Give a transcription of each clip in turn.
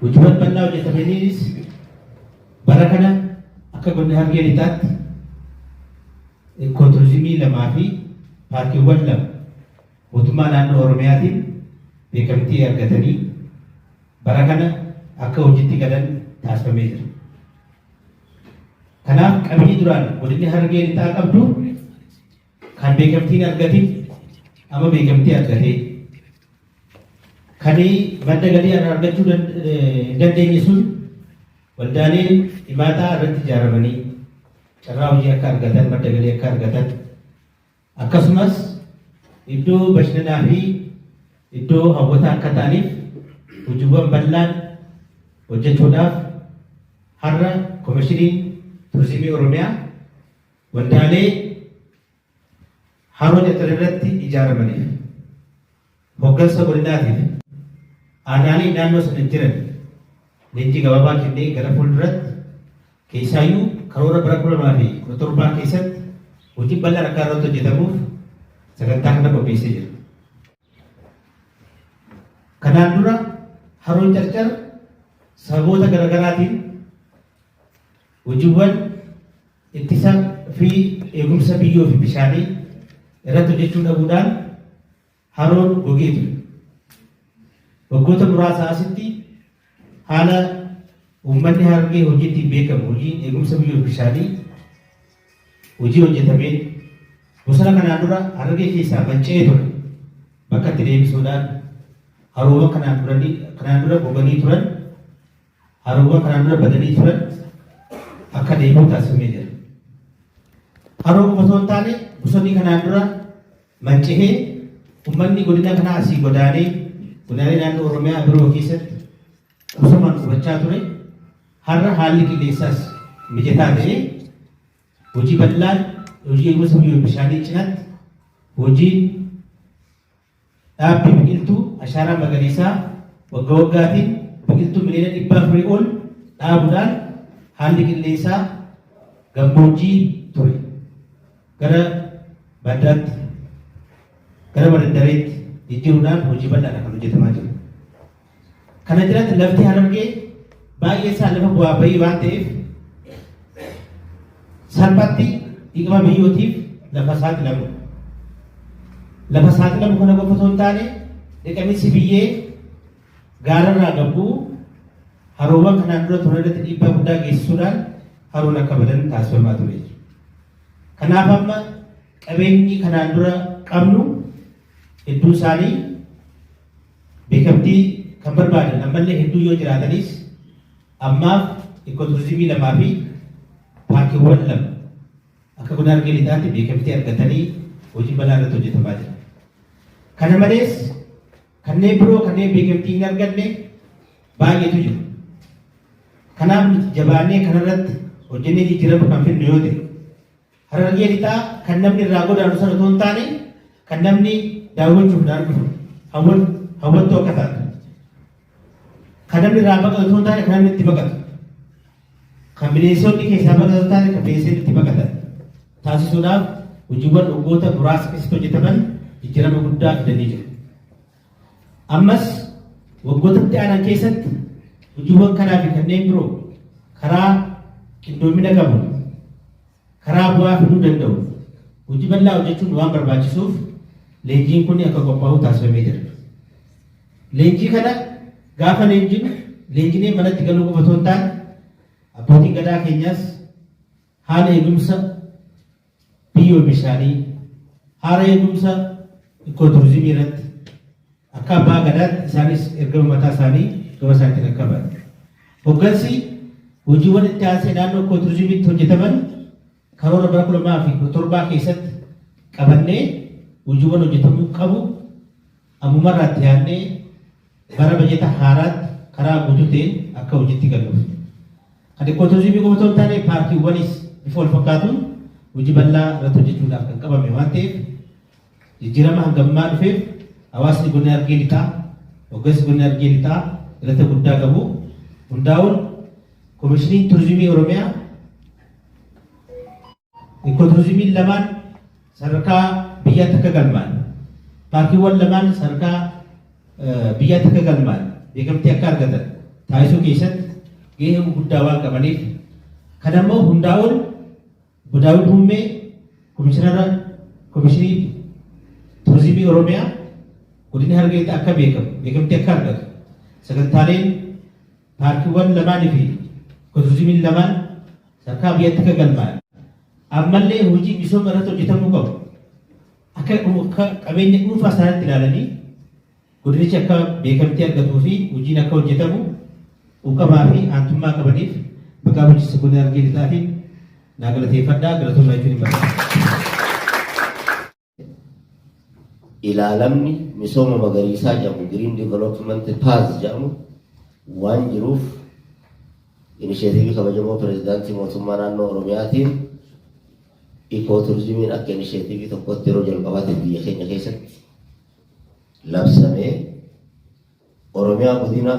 Hojiiwwan bal'aa hojjetamaniinis bara kana akka godina Harargee Lixaatti ikooturizimii lamaa fi paarkiiwwan lama mootummaa naannoo Oromiyaatiin beekamtii argatanii bara kana akka hojiitti galan taasifamee jira. Kanaaf qabeenyi duraan godinni Harargee Lixaa qabdu Kan beekamtii hin argatin amma beekamtii argatee kan madda galii irraa argachuu hin dandeenye sun waldaaleen dhimaataa irratti ijaaramanii carraa hojii akka argatan madda galii akka argatan akkasumas iddoo bashannanaa fi iddoo hawwataa akka ta'aniif hojiiwwan bal'aan hojjechuudhaaf har'a komishiniin turizimii oromiyaa Waldaalee Haroo Cattar irratti ijaaramaniif, hoggansa godinaatiif, aanaalee naannoo sana jiraniif leenjii gabaabaa kennee gara fuulduratti keessaayyuu karoora bara 2017 keessatti hojii bal'aan akka irratti hojjetamuuf sagantaa kana qopheessee jira. Kanaan dura Haroon Carcar sababoota garaagaraatiin Hojiwwan ittisa fi eegumsa biyyoo fi bishaanii irratti hojjechuu dhabuudhaan haroon gogee ture. Waggoota muraasaa asitti haala uummanni Harargee hojii ittiin beekamu hojiin eegumsa biyyoo fi bishaanii hojii hojjetameen bosona kanaan dura Harargee keessaa manca'ee ture bakka itti deebisuudhaan haroowwan kanaan duranii kanaan dura goganii turan Haroowwan kanaan dura badanii turan akka deebi'u taasifamee jira. Haroo qofa osoo hin taane bosonni kanaan dura manca'ee ummanni godina kanaa asii godaanee godaalee naannoo Oromiyaa biroo keessatti bosomaan qubachaa ture har'a haalli qilleensaas mijataa ta'ee hojii bal'aan hojii eegumsa biyyoon bishaanii cinaatti hojiin Dhaabbii biqiltuu ashaaraa magariisaa wagga waggaatiin biqiltuu miliyoona dhibba afurii ol dhaabuudhaan haalli qilleensaa gammoojjii ture gara baddaatti gara badaddareetti jijjiiruudhaan hojii bal'aadha kan hojjetamaa jiru. Kana jalatti lafti harargee baay'ee isaa lafa bu'aa bahii waan ta'eef salphatti dhiqama biyyootiif lafa saaxilamu. Lafa saaxilamu kana qofa osoo hin taane dhiqamiinsi biyyee gaararraa gabbuu haroowwan kanaan dura turan irratti dhiibbaa guddaa geessisuudhaan haroon akka badan taasifamaa ture. Kanaaf amma qabeenyi kanaan dura qabnu hedduu isaanii Beekamtii kan barbaadan ammallee hedduu yoo jiraatanis ammaaf Ikooturizimii lamaa fi paarkiiwwan lama akka godina Harargee Lixaatti beekamtii argatanii hojiin bal'aa irratti hojjetamaa jira. Kana malees kanneen biroo kanneen beekamtii hin arganne baay'eetu jiru. Kanaaf nuti jabaannee kanarratti hojjennee jijjiirama kan fidnu yoo ta'e Harargee lixaa kan namni irraa godaanu sana otoo hin taane kan namni daawwachuuf dhaan dhufu hawwan hawwattuu akka taatu kan namni irraa baqatu otoo hin taane kan namni itti baqatu kan bineensonni keessaa baqatu otoo hin taane kan bineensonni itti baqatan taasisuudhaaf hojiiwwan waggoota muraasa keessatti hojjetaman jijjiirama guddaa fidanii jiru. Ammas waggoota itti aanan keessatti hojiiwwan kanaa fi kanneen biroo karaa qindoomina qabu karaa bu'aa fiduu danda'u hojii bal'aa hojjechuun waan barbaachisuuf leenjiin kun akka qophaa'u taasifamee jira. Leenjii kana gaafa leenjinu leenjinee manatti galuu qofa osoo hin taane abbootiin gadaa keenyaas Haala eegumsa biyyoo bishaanii, haala eegumsa ikooturizimii irratti akka abbaa gadaatti isaanis ergama mataa isaanii gama isaanitti kan qaban. Hoggansi hojiiwwan itti aansee naannoo ikooturizimiitti hojjetaman karoora bara kuma lamaa fi kudha torbaa keessatti qabannee hojiiwwan hojjetamuu qabu ammumarraatti yaadnee Bara bajata haaraatti karaa guutuu ta'een akka hojiitti galuuf kan Ikkooturizimii qofa otoo hin taane paarkiiwwanis bifa wal fakkaatuun hojii bal'aa irratti hojjechuudhaaf kan qabame waan ta'eef jijjiirama hanga ammaa dhufeef hawaasni godina Harargee Lixaa hoggansi godina Harargee Lixaa galata guddaa qabu hundaa'uun Komishiniin Turizimii Oromiyaa Ikooturizimiin lamaan sadarkaa biyyaatti akka galmaa'an, paarkiiwwan lamaan sadarkaa biyyaatti akka galmaa'an, beekamtii akka argatan taasisuu keessatti gahee guddaa waan qabaniif kan ammoo hundaa ol Daawud Hummee komishinara komishinii turizimii Oromiyaa godina Harargeetti akka beekamu beekamtii akka argatu sagantaaleen Paarkiiwwan lamaan fi Ikoturizimiin lamaan sadarkaa biyyaatti akka galmaa'an ammallee hojii misooma irratti hojjetamuu qabu. Akka qabeenya dhuunfaa isaaniitti ilaalanii godinichi akka beekamtii argatuu fi hojiin akka hojjetamu quuqamaa fi aantummaa qabaniif maqaa bulchiinsa godina Harargee Lixaatiin naa galateeffadhaa galatoomaa jechuun hin barbaada. ilaalamni misooma magariisaa jedhamu Green Development Path jedhamu waan jiruuf inisheetiivii kabajamoo pireezidaantii mootummaa naannoo Oromiyaatiin ikooturizimiin akka inisheetiivii tokkotti yeroo jalqabaatiif biyya keenya keessatti labsamee Oromiyaa godina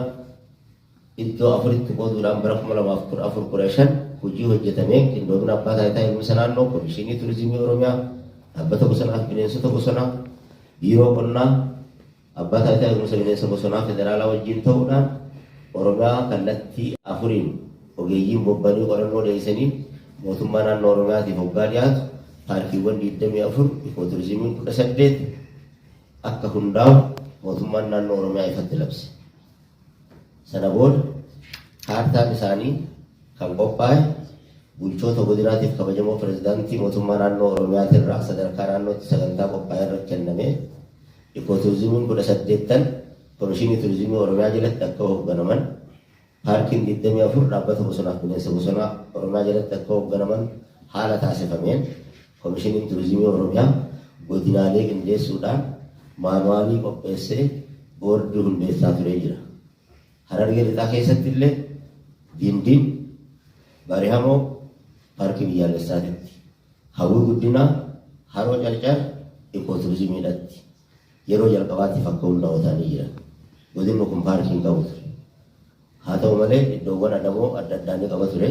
iddoo afuritti qooduudhaan bara 2014 15 hojii hojjetameen qindoomina abbaa taayitaa eegumsa naannoo, Komishinii Turizimii Oromiyaa, Dhaabbata Bosonaa fi Bineensota Bosonaa, Biiroo Qonnaa, Abbaa Taayitaa Eegumsa Bineensa Bosonaa Federaalaa wajjin ta'uudhaan Oromiyaa kallattii afuriin ogeeyyiin bobba'anii qorannoo dhiyeessaniin mootummaa naannoo Oromiyaatiif hoggaa dhiyaatu paarkiiwwan 24, Ikooturizimiin 18, akka hundaa'u mootummaan naannoo Oromiyaa ifatti labse. Sana booda kaartaan isaanii kan qophaa'e bulchoota godinaatiif kabajamoo pirezidaantii mootummaa naannoo Oromiyaatirraa sadarkaa naannootti sagantaa qophaa'e irratti kennamee ikooturizimiin kudha saddeettan komishinii turizimii Oromiyaa jalatti akka hoogganaman Paarkiin 24 Dhaabbata Bosonaaf Bineensa Bosonaa Oromiyaa jalatti akka hoogganaman haala taasifameen Komishiniin Turizimii Oromiyaa godinaalee qindeessuudhaan maanuwaalii qopheessee boordii hundeessaa turee jira. Harargee Lixaa keessatti illee Gindin, Barihamoo, Paarkii Biyyaalessaatitti, Hawwii Guddinaa, Haroo Carcar, Ikooturizimiidhatti Yeroo jalqabaatiif akka hundaa'u ta'anii jiran. Godinni kun paarkii hin qabu ture. Haa ta'u malee iddoowwan adamoo adda addaa ni qaba ture.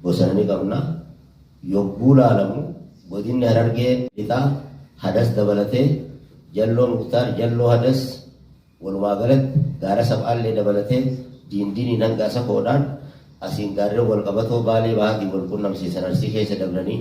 Bosana ni qabna. Yogguu laalamu godinni Harargee lixaa Hadas dabalatee Jalloo Muktaar, Jalloo Hadas walumaa galatti gaara Sab'aallee dabalatee diindiiniin hanga Asakoodhaan asiin gaarreen walqabatoo Baalee bahaatiin walqunnamsiisan Arsii keessa dabranii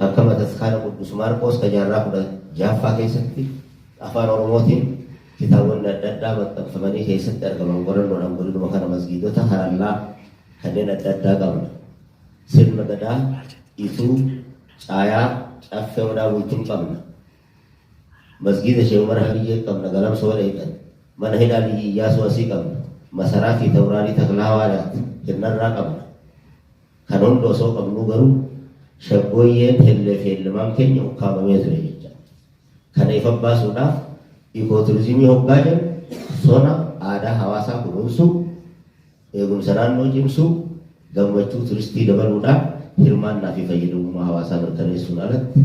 Akka Bataskaana Quddus Maarqoos ka jaarraa 16ffaa keessatti Afaan Oromootiin kitaabonni adda addaa maxxanfamanii keessatti argaman qorannoodhaan godinuma kana masgiidota harallaa kanneen adda addaa qabna. Sirna Gadaa, Ituu, Caayaa, Caffee Odaa Bultum qabna. Masgiida Sheekh Umar Habiyyee qabna Galamsa Waleeqan. Mana Hidhaa Liyyi Iyyaasuu asii qabna. Masaraa fi Tawraalii Taklaa Hawaadaatti Hirnarraa qabna. Kana hunda osoo qabnuu garuu shaggooyyeen hellee fi hellimaan keenya ukkaamamee ture jecha. Kana ifa baasuudhaaf ikooturizimii hoggaa jennu sona aadaa hawaasaa kunuunsuu, eegumsa naannoo cimsuu, gammachuu turistii dabaluudhaan hirmaannaa fi fayyadamummaa hawaasaa mirkaneessuun alatti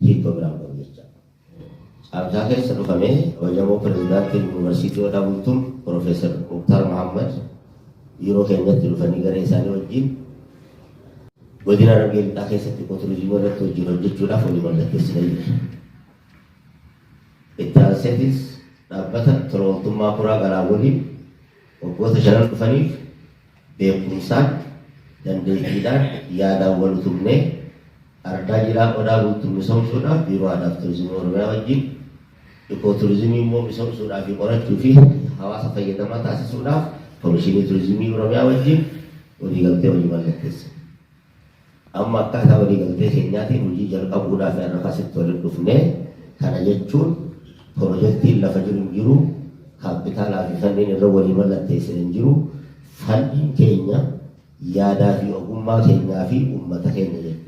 hiikkoo biraa hin qabu jecha. Caamsaa keessa dhufamee kabajamoo Pireezidaantiin Yuunivarsiitii Odaa Bultum Pirofeesar Muktaar Mahaammad biiroo keenyatti dhufanii garee isaanii wajjin godina Harargee Lixaa keessatti ikooturizimii irratti wajjin hojjechuudhaaf walii mallatteessinee jirra. Itti aanseetis dhaabbata tola ooltummaa Kuraa Garaa waliin Waggoota shanan dhufaniif beekumsaan, dandeettiidhaan, yaadaan wal utubnee Ardaa Jilaa Odaa Bultum misoomsuudhaaf Biiroo Aadaa fi Turizimii Oromiyaa wajjin Ikooturizimii immoo misoomsuudhaa fi qorachuu fi hawaasa fayyadamaa taasisuudhaaf Komishinii Turizimii Oromiyaa wajjin waliigaltee hojii mallatteessine. Amma akkaataa waliigaltee keenyaatiin hojii jalqabuudhaaf har'a asitti walitti dhufne. Kana jechuun pirojektiin lafa jiru hin jiru, kaappitaalaa fi fandiin irra walii mallatteessine hin jiru. Fandiin keenya yaadaa fi ogummaa keenyaa fi uummata keenya jechuudha.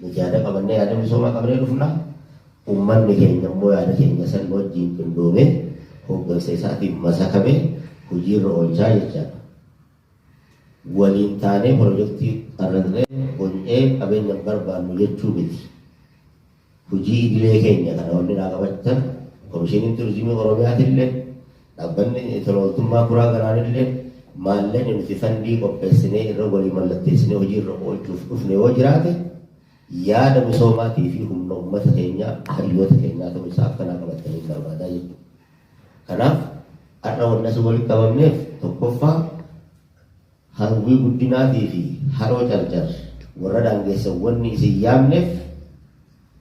Nuti yaada qabannee yaada misoomaa qabannee dhufna. Uummanni keenya immoo yaada keenya san wajjin qindoomee hooggansa isaatiin masakamee hojiirra oolchaa jechaadha. waliin taanee pirojektii qarraqnee bony'ee qabeenya hin barbaannu jechuu miti. Hojii idilee keenya kana wanni naa qabachan Komishiniin Turizimii Oromiyaatillee, Dhaabbanni Tola Ooltummaa Kuraa Galaanillee maallaqni nuti fandii qopheessinee irra walii mallatteessinee hojii irra oolchuuf dhufne yoo jiraate yaada misoomaatii fi humna ummata keenyaa, hayyoota keenyaa ta'uu isaa akka naa qabattaniin barbaadaa jechuudha. Kanaaf har'a wanni asiin walitti qabamneef tokkoffaa hawwii guddinaatii fi haroo carcar warra daangessan wanni isin yaamneef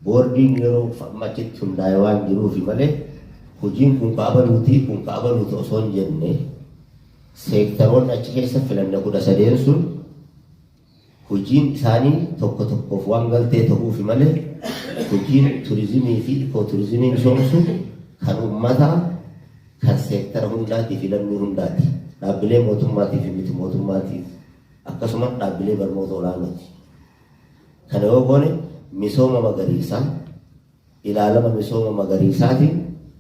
boordiin yeroo amma achitti hundaa'e waan jiruufi malee hojiin kun ka abaluuti kun ka abaluuti osoo hin jenne seektaroonni achi keessa filanne kudha sadeen sun Hojiin isaanii tokko tokkoof waan galtee ta'uufi malee hojiin turizimii fi ikooturizimii misoomsu kan ummataa, kan seektara hundaatii fi lammii hundaati. Dhaabbilee mootummaatii fi miti mootummaatiif akkasumas dhaabbilee barnoota olaanooti. Kana yoo goone misooma magariisaa ilaalama misooma magariisaatiin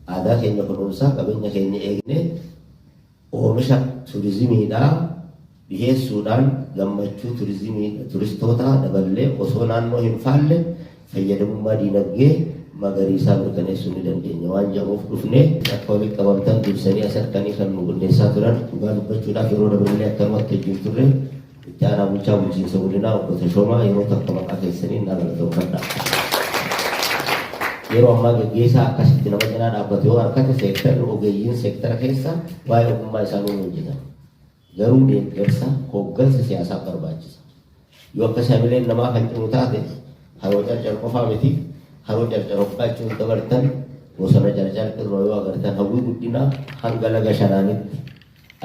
aadaa keenya kunuunsaa qabeenya keenya eegnee Oomisha turizimiidhaa dhiheessuudhaan gammachuu turizimii turistootaa daballee osoo naannoo hin faalle fayyadamummaa diinagdee magariisaa mirkaneessuu ni dandeenya waan jedhuuf dhufne akka walitti qabamtan dursanii as harkanii kan nu qindeessaa turan dhugaa dubbachuudhaaf yeroo daballee akkanumatti wajjin turre Itti Aanaa Bulchaa Bulchiinsa Godinaa Obbo Tashoomaa yeroo takka maqaa keessaniin na galatoomfadha. Yeroo ammaa gaggeessaa akkasitti nama cinaa dhaabbatu yoo harkate seektarri ogeeyyiin seektara keessa waa'ee ogummaa isaa nuun hojjetan. Garuu deeggarsa hooggansa siyaasaa barbaachisa. Yoo akka samileen namaa kan cimu taate haroo carcar qofaa miti haroo carcar hoqqaachuun dabartan bosona carcar irra yoo agartan hawwii guddinaa hanga laga shanaanitti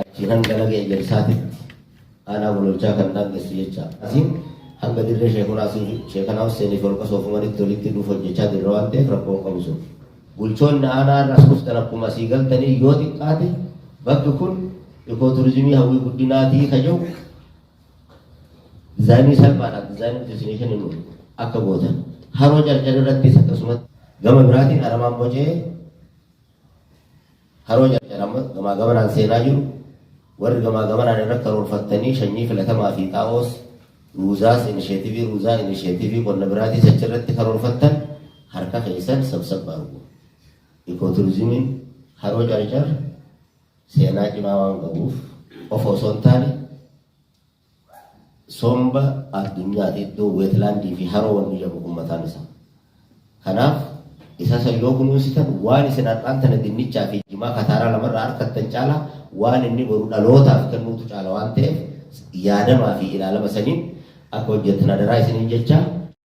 Achii hanga laga Ejersaatitti aanaa Gololchaa kan daangessu jecha. Asiin hanga dirree Sheekunaa fi Sheekanaa Husseenii fi Holqa Soofumaritti walitti hidhuuf hojjechaa jirra waan ta'eef rakkoo hin qabu sun. Bulchoonni aanaa irraas dhuftan akkuma asii galtanii yoo xiqqaate bakki kun ikooturizimii hawwii guddinaatii ka jiru dizaayinii salphaadhaan dizaayinii destination akka gootan haroo carcar irrattis akkasumatti gama biraatiin aramaan bocee Haroo Carcar amma gamaa gamanaan seenaa jiru. Warri gamaa gamanaan irra karoorfattanii shanyii filatamaa fi xaa'oos ruuzaas inisheetivii ruuzaa inisheetivii qonna biraatiis achirratti karoorfattan harka keessan sabsab argu. Ikooturizimiin haroo Carcar seenaa cimaa waan qabuuf of osoo hin taane Somba Addunyaati iddoo wetland fi haroo wanni jedhamu kun mataan isaa. Kanaaf isa san yoo kunuunsitan waan isin har'aan tana dinnichaa fi jimaa kataaraa lamarraa arkattan caala waan inni boru dhalootaaf kennuutu caala waan ta'eef yaadamaa fi ilaalama saniin akka hojjettan adaraa isiniin jechaa.